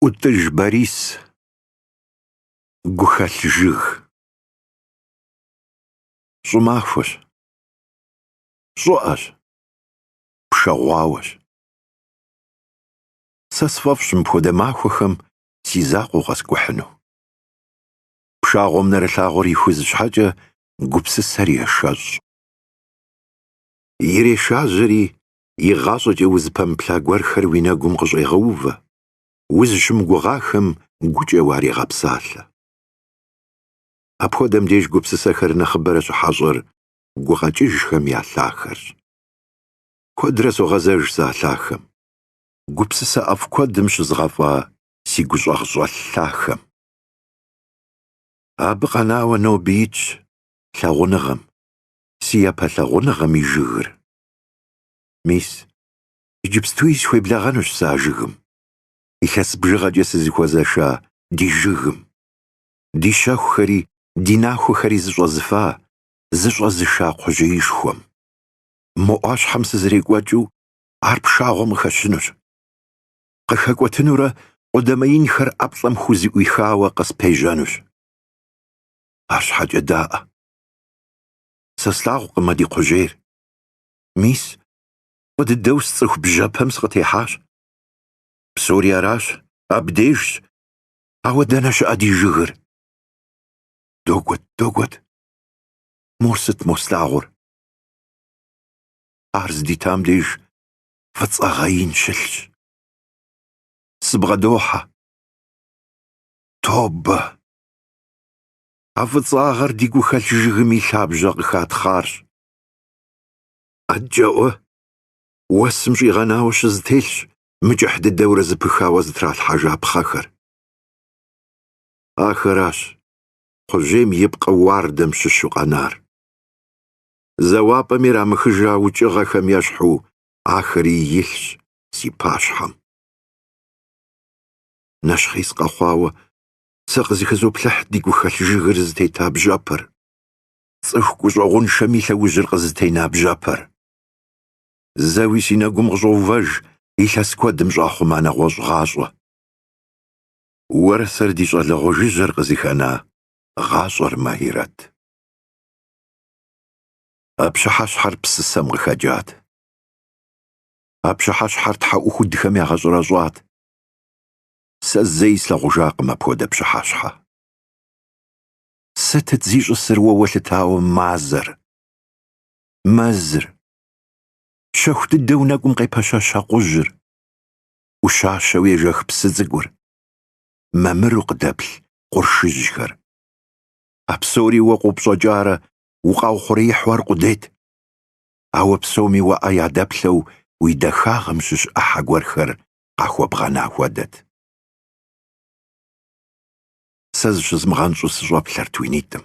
ӏутӏыж Борис, гухэлъ жыг. Щӏымахуэщ, щӏыӏэщ, пшэгъуауэщ. Сэ сфӏэфӏщ мыпхуэдэ махуэхэм си закъуэу къэскӏухьыну. Пшагъуэм нэрылъагъур ихуз щхьэкӏэ гупсысэр ешэщӏ. Ирешажьэри игъащӏэкӏэ узыпэмыплъа гуэрхэр уи нэгум къыщӏегъэувэ, узыщымыгугъахэм гукӏэ уарегъэпсалъэ. Апхуэдэм деж гупсысэхэр нэхъыбэрэ щыхьэщӏэр гукъэкӏыжхэм я лъахэрщ. Куэдрэ согъэзэж сэ а лъахэм, гупсысэ ӏэфӏ куэдым щызгъэфӏа си гущӏагъщӏэлъ лъахэм. Абы къэнауэ ноби итщ лъагъуныгъэм, си япэ лъагъуныгъэм и жыгыр. Мис, иджыпстуи сыхуеблэгъэнущ сэ а жыгым, илъэс бжыгъэкӏэ сызыхуэзэша ди жыгым. Ди щэхухэри ди нахуэхэри зыщӏэзыфа, зыщӏэзыша кхъужьеишхуэм. Мо ӏуащхьэм сызэрекӏуэкӏыу ар пшагъуэм къыхэщынущ. Къыхэкӏуэтынурэ къудамэ инхэр ӏэплӏэм хузэӏуихауэ къыспежьэнущ. Арщхьэкӏэ даӏэ. Сэ слъагъукъым а ди кхъужьейр, Мис, фӏы дыдэу сцӏыху бжьэпэм сыкъытехьащ. Псори аращ, абдежщ. Ауэ дэнэ щыӏэ ди жыгыр? Догуэт, догуэт. Мор сыт мо слъагъур? Ар здитам деж фӏыцӏагъэ ин щылъщ. Сыбгъэдохьэ. Тобэ! А фӏыцӏагъэр ди гухэлъ жыгым и лъабжьэ къыхатхъарщ. Адэкӏэӏуэ, уэсым щӏигъэнауэ щызэтелъщ мыкӏыхь дыдэурэ зэпыхауэ зэтралъхьэжа пхъэхэр. Ахэращ кхъужьейм и пкъы уардэм щыщу къэнар. Зэуапӏэм ирамыхыжа укӏыгъэхэм ещхьу ахэри илъщ си пащхьэм. Нэщхъей сыкъэхъуауэ сэ къызэхызоплъыхь ди гухэлъ жыгыр зытета бжьэпэр. цӏыху гущӏэгъуншэм и лъэужьыр къызытена бжьэпэр. Зэуэ си нэгум къыщӏоувэж илъэс куэдым щӏахъума нэгъуэщӏ гъащӏэ. Уэрэ сэрэ ди щӏалэгъуэ жыжьэр къызыхэна гъащӏэр Махирэт. А пщыхьэщхьэр псысэм къыхэкӏат. А пщыхьэщхьэр тхьэӏухудхэм ягъэщӏэрэщӏат. Сэ зэи слъагъужакъым апхуэдэ пщыхьэщхьэ. Сытыт зищӏысыр уэ уэлъытауэ мазэр? Мэзыр. Щэху дыдэу нэкӏум къепэщэщ акъужьыр. ӏущащэу ежэх псы цӏыкӏур. Мамыру къыдэплъ къуршыжьхэр. А псори уэ къопщӏэкӏарэ укъаухъуреихьу аркъудейт. Ауэ псоми уэ ӏэ ядэплъэу уи дахагъэм щыщ ӏыхьэ гуэрхэр къахуэбгъэна хуэдэт. сэ зыщызмыгъэнщӏу сыщӏэплъэрт уи нитӏым.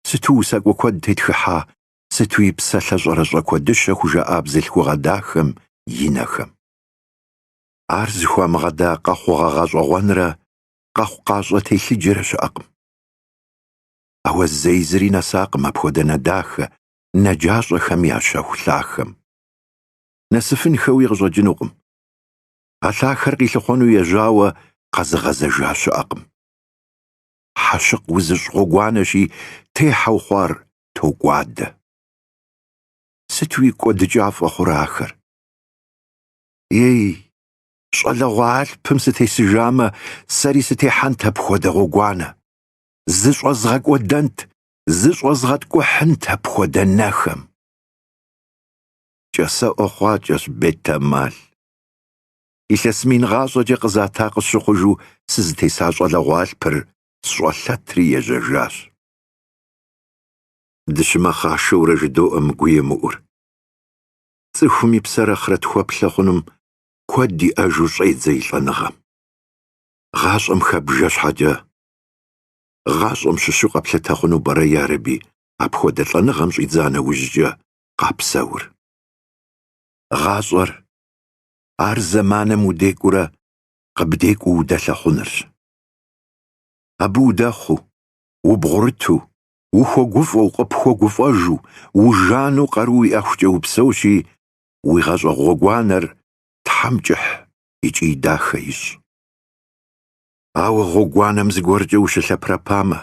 Сыту усакӏуэ куэд тетхыхьа, сытуи псэлъэ щӏэрэщӏэ куэдыщэ хужаӏа бзылъхугъэ дахэм и нэхэм. Ар зыхуамыгъэда къэхъугъэ гъэщӏэгъуэнрэ къэхъукъащӏэ телъыджэрэ щыӏэкъым. Ауэ зэи зыри нэсакъым апхуэдэ нэ дахэ, нэ джащӏэхэм я щэху лъахэм. Нэсыфынхэуи къыщӏэкӏынукъым. А лъахэр къилъыхъуэну ежьауэ къэзыгъэзэжа щыӏэкъым. Хьэщыкъ узыщӏ гъуэгуанэщи, техьэу хъуар токӏуадэ. Сытуи кӏуэдыкӏафӏэ хъурэ ахэр! Ей, щӏалэгъуэ алъпым сытесыжамэ, сэри сытехьэнт апхуэдэ гъуэгуанэ, зыщӏэзгъэкӏуэдэнт, зыщӏэзгъэткӏухьынт апхуэдэ нэхэм! Кӏасэӏуэ хъуакӏэщ бетэмал. Илъэс мин гъащӏэкӏэ къызата къысщыхъужу сызытеса щӏалэгъуэ алъпыр сщӏэлъэтри ежьэжащ. Дыщымэхъашэурэ жыдоӏэ мы гуемыӏур. Цӏыхум и псэр ахърэтхуэплъэ хъунум куэд иӏэжу щӏедзэ и лӏэныгъэм. Гъащӏэм хэбжэ щхьэкӏэ, гъащӏэм щыщу къэплъытэ хъуну пӏэрэ ярэби апхуэдэ лӏэныгъэм щӏидза нэужькӏэ къапсэур. гъащӏэр, ар зэманым удекӏуурэ къыбдекӏуу удэлъэхъунырщ. Абы удэхъуу, убгъурыту, ухуэгуфӏэу, къыпхуэгуфӏэжу, ужанэу къару уиӏэхукӏэ упсэущи, уи гъащӏэ гъуэгуанэр Тхьэм кӏыхь икӏи дахэ ищӏ. Ауэ гъуэгуанэм зыгуэркӏэ ущылъэпэрэпамэ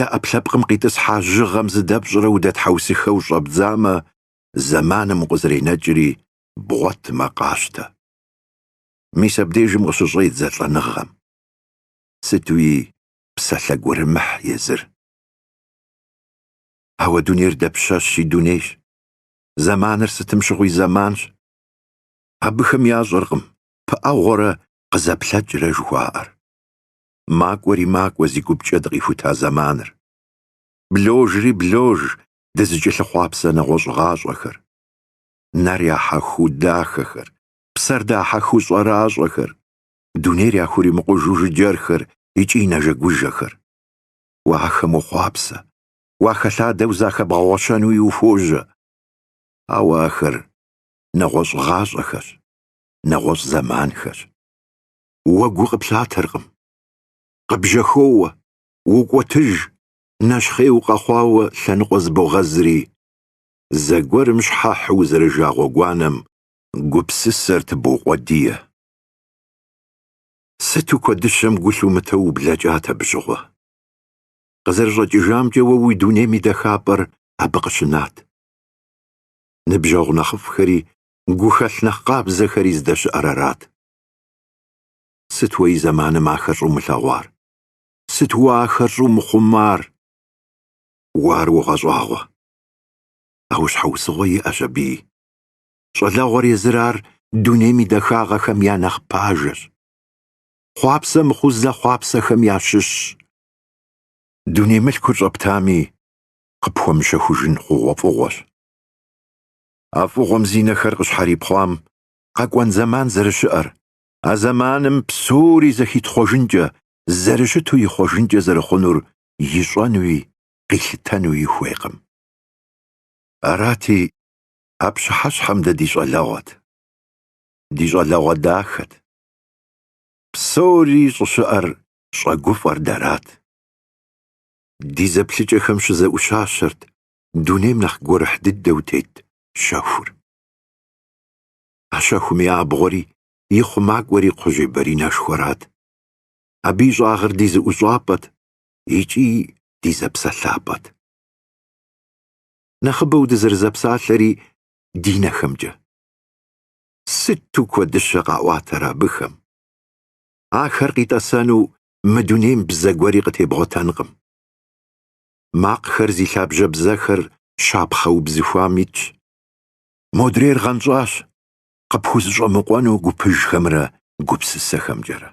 е ӏэпкълъэпкъым къитӏысхьа жьыгъэм зыдэпщӏрэ удэтхьэусыхэу щӏэбдзамэ, зэманым укъызэренэкӏри бгъуэтмэ къащтэ. Мис абдежым къыщыщӏедзэ лӏэныгъэм. Сытуи псалъэ гурымыхь езыр. Ауэ дунейр дапщэщи дунейщ, зэманыр сытым щыгъуи зэманщ. Абыхэм ящӏэркъым пыӏэгъуэрэ къызэплъэкӏрэ жыхуаӏэр. Макӏуэри макӏуэ зи гупкӏэ дыкъихута зэманыр. Бложри блож дызыкӏэлъыхъуапсэ нэгъуэщӏ гъащӏэхэр, нэр яхьэхыу дахэхэр, псэр дахьэхыу щӏэращӏэхэр, дунейр яхуримыкъужу жыджэрхэр икӏи нэжэгужэхэр. Уэ ахэм ухъуапсэ, уахэлъадэу захэбгъэгъуэщэнуи ухуожьэ. Ауэ ахэр нэгъуэщӏ гъащӏэхэщ, нэгъуэщӏ зэманхэщ. Уэ гу къыплъатэркъым. Къыбжьэхоуэ, укӏуэтыж, нэщхъей укъэхъуауэ лъэныкъуэ зыбогъэзри, зэгуэрым щхьэхьу узэрыжа гъуэгуанэм гупсысэр тыбоукъуэдие. Сыту куэдыщэм гу лъумытэу ублэкӏат абы щыгъуэ. Къызэрыщӏэкӏыжамкӏэ уэ уи дунейм и дахапӏэр абы къыщынат. Ныбжьэгъу нэхъыфӏхэри гухэлъ нэхъ къабзэхэри здэщыӏэр арат. Сыт уэ и зэманым ахэр щӏумылъэгъуар? Сыт уэ ахэр щӏумыхъумар? Уэ ар уогъэщӏагъуэ. Ауэ щхьэусыгъуэ иӏэщ абыи. Щӏалэгъуэр езыр ар дунейм и дахагъэхэм я нэхъ пажэщ. Хъуапсэ мыхъу зэхъуапсэхэм ящыщщ. Дуней мылъкур щӏэптами, къыпхуэмыщэхужын хъугъуэфӏыгъуэщ. А фӏыгъуэм зи нэхэр къыщхьэрипхъуам къэкӏуэн зэман зэрыщыӏэр, а зэманым псори зэхитхъуэжынкӏэ зэрыщыту ихъуэжынкӏэ зэрыхъунур ищӏэнуи къилъытэнуи хуейкъым. Арати, а пщыхьэщхьэм дэ ди щӏалэгъуэт. Ди щӏалэгъуэ дахэт. Псори щӏыщыӏэр щӏэгуфӏэр дэрат. Ди зэплъыкӏэхэм щызэӏущащэрт дунейм нэхъ гурыхь дыдэу тет щэхур. А щэхум и абгъуэри и хъумакӏуэри кхъужьей баринэшхуэрат, Абы и щӏагъыр ди зэӏущӏапӏэт икӏи ди зэпсэлъапӏэт. Нэхъыбэу дызэрызэпсалъэри ди нэхэмкӏэ. Сыту куэдыщэ къаӏуатэр абыхэм! Ахэр къитӏэсэну мы дунейм бзэ гуэри къытебгъуэтэнкъым. Макъхэр зи лъабжьэ бзэхэр щапхъэ убзыхуам итщ. Модрейр гъэнщӏащ, къыпхузыщӏэмыкъуэну гупыжхэмрэ гупсысэхэмкӏэрэ.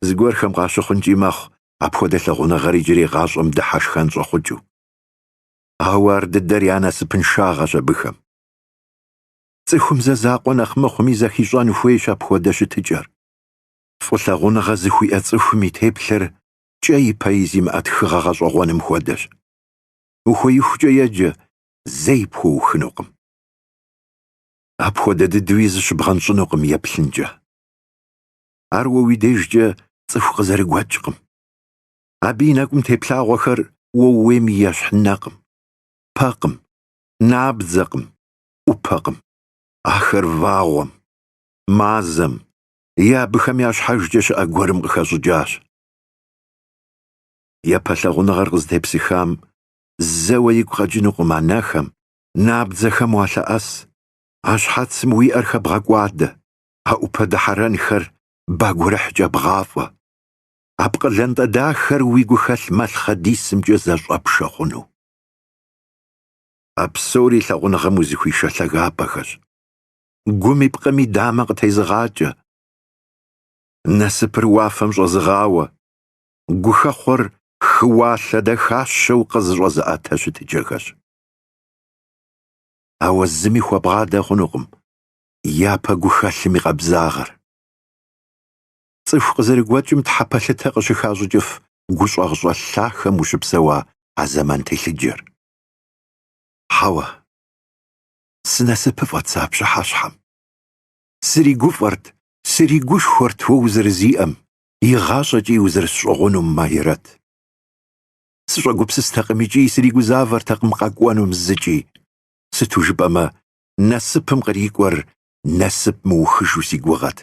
Зыгуэрхэм къащыхъункӏи мэхъу апхуэдэ лъагъуныгъэр иджырей гъащӏэм дыхьэшхэн щӏэхъукӏыу. Ауэ ар дыдэр я насыпыншагъэщ абыхэм. Цӏыхум зэ закъуэ нэхъ мыхъуми зэхищӏэн хуейщ апхуэдэ щытыкӏэр. Фӏылъагъуныгъэ зыхуиӏэ цӏыхум и теплъэр кӏэи пэи зимыӏэ тхыгъэ гъэщӏэгъуэным хуэдэщ. Ухуеихукӏэ еджэ, зэи пхуэухынукъым. Апхуэдэ дыдэуи зыщыбгъэнщӏынукъым еплъынкӏэ. Ар уэ уи дежкӏэ цӏыху къызэрыгуэкӏкъым. Абы и нэкӏум теплъагъуэхэр уэ ууейм ещхь нэкъым, пэкъым, набдзэкъым, ӏупэкъым. Ахэр вагъуэм, мазэм е абыхэм я щхьэжкӏэ щыӏэ гуэрым къыхэщӏыкӏащ. Япэ лъагъуныгъэр къызытепсыхам зэуэ игу къэкӏынукъым а нэхэм, набдзэхэм уалъэӏэс, а щхьэцым уи ӏэр хэбгъэкӏуадэ, а ӏупэ дыхьэрэнхэр ба гурыхькӏэ бгъафӏэ. А пкъы лантӏэ дахэр уи гухэлъ мылъхъэдисымкӏэ зэщӏэпшэ хъуну. А псори лъагъуныгъэм узыхуишэ лъагапӏэхэщ. Гуми пкъыми дамэ къытезыгъакӏэ. Насыпыр уафэм щӏэзыгъауэ, гухэхъуэр хыуалъэ дахащэу къызыщӏэзыӏэтэ щытыкӏэхэщ. Ауэ зыми хуэбгъадэ хъунукъым япэ гухэлъым и къабзагъэр. Цӏыху къызэрыгуэкӏым тхьэ пэлъытэ къыщыхащӏыкӏыф гущӏагъщӏэлъ лъахэм ущыпсэуа а зэман телъыджэр. Хьэуэ, сынасыпыфӏэт сэ а пщыхьэщхьэм. Сыригуфӏэрт, сыригушхуэрт уэ узэрызиӏэм, игъащӏэкӏи узэрысщӏыгъунум, Магирэт. Сыщӏэгупсыстэкъым икӏи сригузавэртэкъым къэкӏуэнум зыкӏи. Сыту жыпӏэмэ, насыпым кърикӏуэр насып мыухыжу си гугъэт.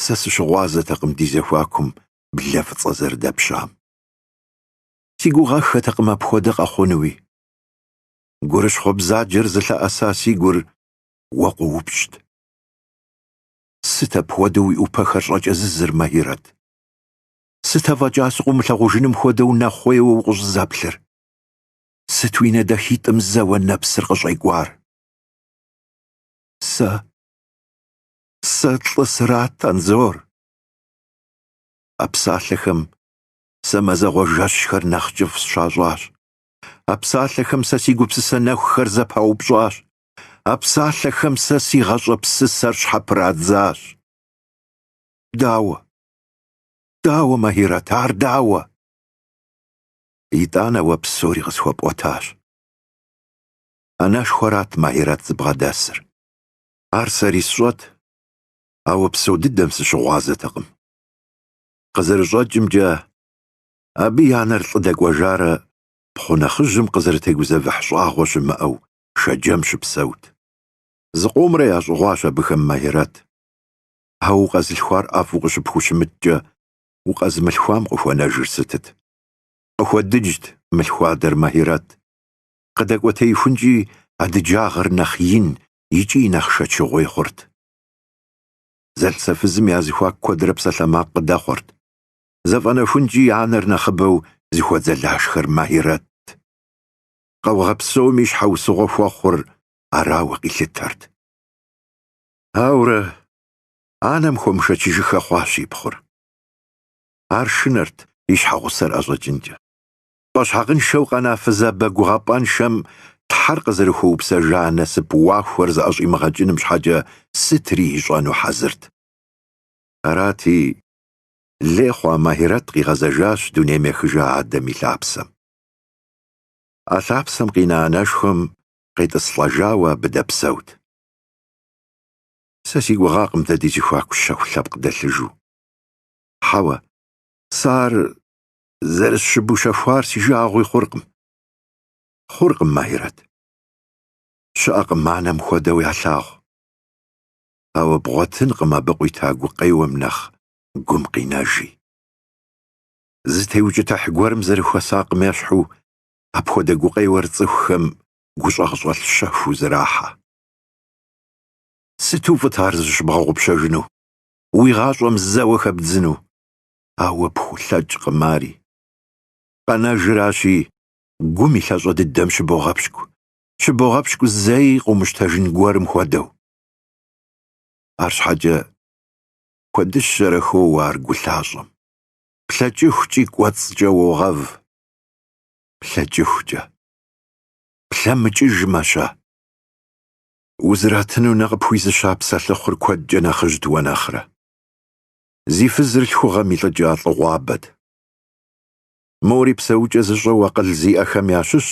Сэ сыщыгъуазэтэкъым ди зэхуакум блэ фӏыцӏэ зэрыдэпщам. Си гугъэххэтэкъым апхуэдэ къэхъунуи. Гурыщхъуэ бзаджэр зылъэӏэса си гур уэ къоупщӏт. Сыт апхуэдэу уи ӏупэхэр щӏэкӏэзызыр, Магирэт? Сыт афӏэкӏа сыкъыумылъагъужыным хуэдэу нэхъуейуэ укъыщӏызэплъыр? Сыт уи нэ дахитӏым зэуэ нэпсыр къыщӏекӏуар? Сэ. Сэ лӏы сырат, Анзор. А псалъэхэм сэ мазэгъуэ жэщхэр нэхъ кӏыфӏ сщащӏащ. А псалъэхэм сэ си гупсысэ нэхухэр зэпаупщӏащ. А псалъэхэм сэ си гъащӏэ псысэр щхьэпырадзащ. Дауэ? Дауэ, Магирэт, ар дауэ? Итӏанэ уэ псори къысхуэпӏуэтащ. Анэшхуэрат Магирэт зыбгъэдэсыр. Ар сэри сщӏэт, ауэ псо дыдэм сыщыгъуазэтэкъым. Къызэрыщӏэкӏымкӏэ, абы и анэр лӏы дэкӏуэжарэ пхъу нэхъыжьым къызэрытегузэвыхь щӏагъуэ щымыӏэу Шэджэм щыпсэут. Зыкъомрэ ящӏыгъуащ абыхэм Магирэт. Ауэ укъэзылъхуар ӏэфӏу къыщыпхущымыткӏэ, укъэзымылъхуам къыхуэнэжыр сытыт? Къыхуэдыджт мылъхуадэр Махирэт. Къыдэкӏуэтеихункӏи, а дыджагъэр нэхъ ин икӏи нэхъ шэчыгъуей хъурт. Зэлӏзэфызым я зэхуаку куэдрэ псалъэмакъ къыдэхъуэрт. Зэфӏэнэхункӏи, анэр нэхъыбэу зыхуэдзэлашхэр Махирэтт. Къаугъэ псоми щхьэусыгъуэ хуэхъур арауэ къилъытэрт. Ауэрэ анэм хуэмышэчыжыххэ хъуащ и пхъур. Ар шынэрт и щхьэгъусэр ӏэщӏэкӏынкӏэ. Пӏэщхьагъыншэу къэна фызабэ гугъапӏэншэм Тхьэр къызэрыхуэупсэжа насып вагъуэр зыӏэщӏимыгъэкӏыным щхьэкӏэ сытри ищӏэну хьэзырт. Арати, лей хъуа Махирэт къигъэзэжащ дунейм ехыжа адэм и лъапсэм. А лъапсэм къина анэшхуэм къетӏыслӏэжауэ абы дэпсэут. Сэ си гугъакъым дэ ди зэхуаку щэху лъэпкъ дэлъыжу. Хьэуэ, сэ ар зэрысщыбущэхуар си жагъуи хъуркъым. Хъуркъым, Махирэт. Щыӏэкъым анэм хуэдэу ялъагъу. Ауэ бгъуэтынкъым абы къуита гукъеуэм нэхъ гум къинэжи. Зытеукӏытыхь гуэрым зэрыхуэсакъым ещхьу апхуэдэ гукъеуэр цӏыхухэм гущӏэгъщӏэлъ щэхуу зэрахьэ. Сыту фӏыт ар зыщыбгъэгъупщэжыну, уи гъащӏэм зэуэ хэбдзыну, ауэ пхулъэкӏкъым ари. Къэнэжыращи, гум и лъащӏэ дыдэм щыбогъэпщкӏу, щыбогъэпщкӏу зэи къыумыщтэжын гуэрым хуэдэу. Арщхьэкӏэ куэдыщэрэ хоуэ ар гу лъащӏэм. Плъэкӏыхукӏи кӏуэцӏкӏэ уогъэв. Плъэкӏыхукӏэ. Плъэмыкӏыжмэ-щэ, Узратыну нэ къыпхуизыща псэлъыхъур куэдкӏэ нэхъыжьт уэ нэхърэ. Зи фызыр лъхугъэм илӏыкӏа лӏыгъуабэт. Мори псэукӏэ зыщӏэу акъыл зиӏэхэм ящыщщ,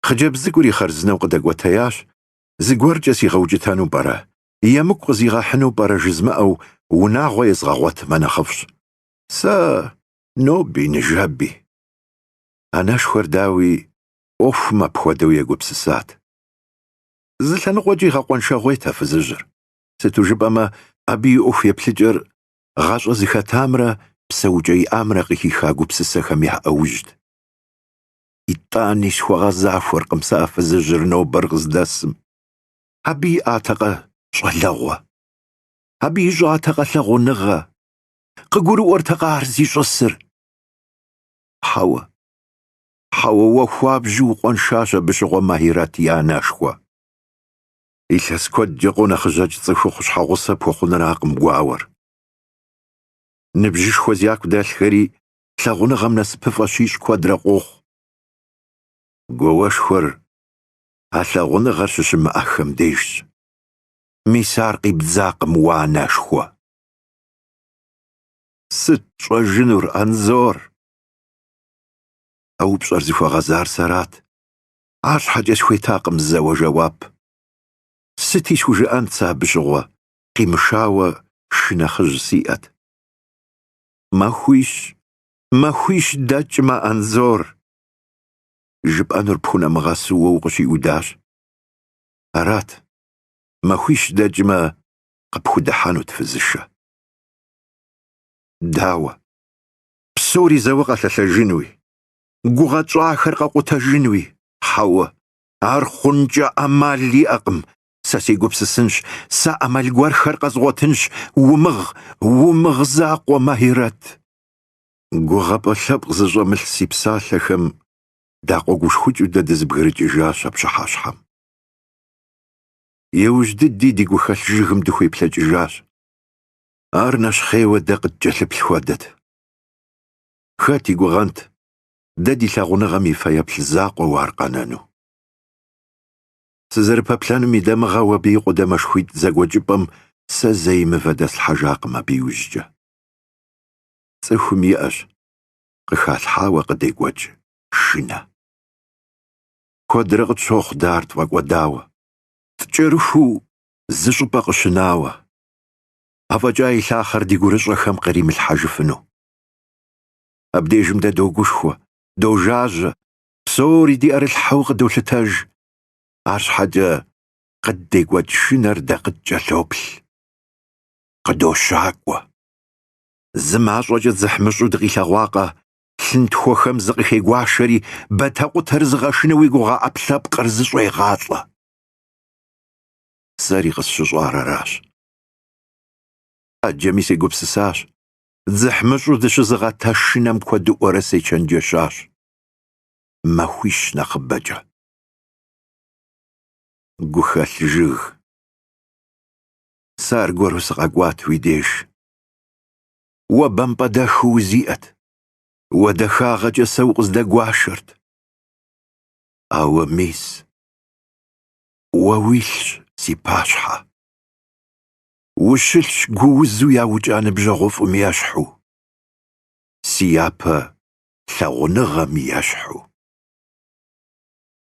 хъыджэбз цӏыкӏури хъарзынэу къыдэкӏуэтеящ, Зыгуэркӏэ сигъэукӏытэну пӏэрэ, емыкӏу къызигъэхьыну пӏэрэ жызмыӏэу унагъуэ езгъэгъуэтмэ нэхъыфӏщ. Сэ, ноби, ныжэби. Анэшхуэр, дауи, ӏуэхум апхуэдэу егупсысат. Зы лъэныкъуэкӏи гъэкъуэншагъуейт а фызыжьыр, сыту жыпӏэмэ, абы и ӏуэху еплъыкӏэр гъащӏэ зыхэтамрэ псэукӏэ иӏамрэ къыхиха гупсысэхэм я ӏэужьт. Итӏани схуэгъэзахуэркъым сэ а фызыжьыр нобэр къыздэсым. Абы иӏатэкъэ щӏалэгъуэ? Абы ищӏатэкъэ лъагъуныгъэ? Къыгурыӏуэртэкъэ ар зищӏысыр? Хьэуэ, Хьэуэ, уэ хуабжьу укъуэншащ абы щыгъуэ Махьирэт и анэшхуэ. Илъэс куэдкӏэ къонэхъыжьэкӏ цӏыхухъу щхьэгъусэ пхуэхъуныракъым гуауэр. Ныбжьышхуэ зяку дэлъхэри лъагъуныгъэм насыпыфӏэ щищӏ куэдрэ къохъу. Гуауэшхуэр а лъагъуныгъэр щыщымыӏэхэм дежщ. Мис ар къибдзакъым уэ анэшхуэ. Сыт тщӏэжынур, Анзор? А упщӏэр зыхуэгъэзар сэрат. Арщхьэкӏэ схуетакъым зэуэ жэуап. Сыти схужыӏэнт сэ абы щыгъуэ, къимышауэ шынэхъыжь сиӏэт. Махуищ, махуищ дэкӏмэ, Анзор! Жыпӏэнур пхунэмыгъэсу уэ укъыщиудащ. Арат, махуищ дэкӏмэ, къыпхудыхьэнут фызышэ. Дауэ? псори зэуэ къэлъэлъэжынуи, гугъэ тщӏахэр къэкъутэжынуи, хьэуэ, ар хъункӏэ ӏэмал иӏэкъым, сэ сегупсысынщ, сэ ӏэмал гуэрхэр къэзгъуэтынщ, умыгъ, умыгъ закъуэ, Махьирэт! Гугъэпӏэ лъэпкъ зыщӏэмылъ си псалъэхэм дакъуэгушхукӏыу дэ дызэбгрыкӏыжащ а пщыхьэщхьэм. Иужь дыди ди гухэлъ жыгым дыхуеплъэкӏыжащ. Ар нэщхъейуэ дэ къыткӏэлъыплъ хуэдэт. Хэт и гугъэнт дэ ди лъагъуныгъэм и фэеплъ закъуэу ар къэнэну? Сызэрыпэплъэным и дамыгъэу абы и къудамэшхуитӏ зэгуэкӏыпӏэм сэ зэи мывэ дэслъхьэжакъым абы иужькӏэ. Цӏыхум иӏэщ къыхалъхьауэ къыдекӏуэкӏ шынэ. Куэдрэ къытщохъу дэ ар тфӏэкӏуэдауэ. Ткӏэрыхуу зы щӏыпӏэ къыщынауэ, афӏэкӏа и лъахъэр ди гурыщӏэхэм къримылъхьэжыфыну. Абдежым дэ догушхуэ, дожажьэ, псори ди ӏэрылъхьэу къыдолъытэж, арщхьэкӏэ къыддекӏуэкӏ шынэр дэ къыткӏэлъоплъ, къыдощакӏуэ. Зы мащӏэкӏэ дзыхьмыщӏу дыкъилъэгъуакъэ, лъынтхуэхэм зыкъыхегуашэри бэтэкъутэр зыгъэшыну уи гугъэ ӏэпкълъэпкъыр зыщӏегъалӏэ. сэри къысщыщӏар аращ. Ӏэджэми сегупсысащ, дзыхьмыщӏу дыщызыгъэт а шынэм куэдыӏуэрэ сечэнджэщащ. Махуищ нэхъыбэкӏэ. Гухэлъ жыг. Сэ аргуэру сыкъэкӏуат уи деж. Уэ бампӏэдэху узиӏэт. Уэ дахагъэкӏэ сэ укъыздэгуашэрт. Ауэ мис. Уэ уилъщ, си пащхьэ. Ущылъщ гуузу яукӏа ныбжьэгъуфӏым ещхьу, си япэ лъагъуныгъэм ещхьу.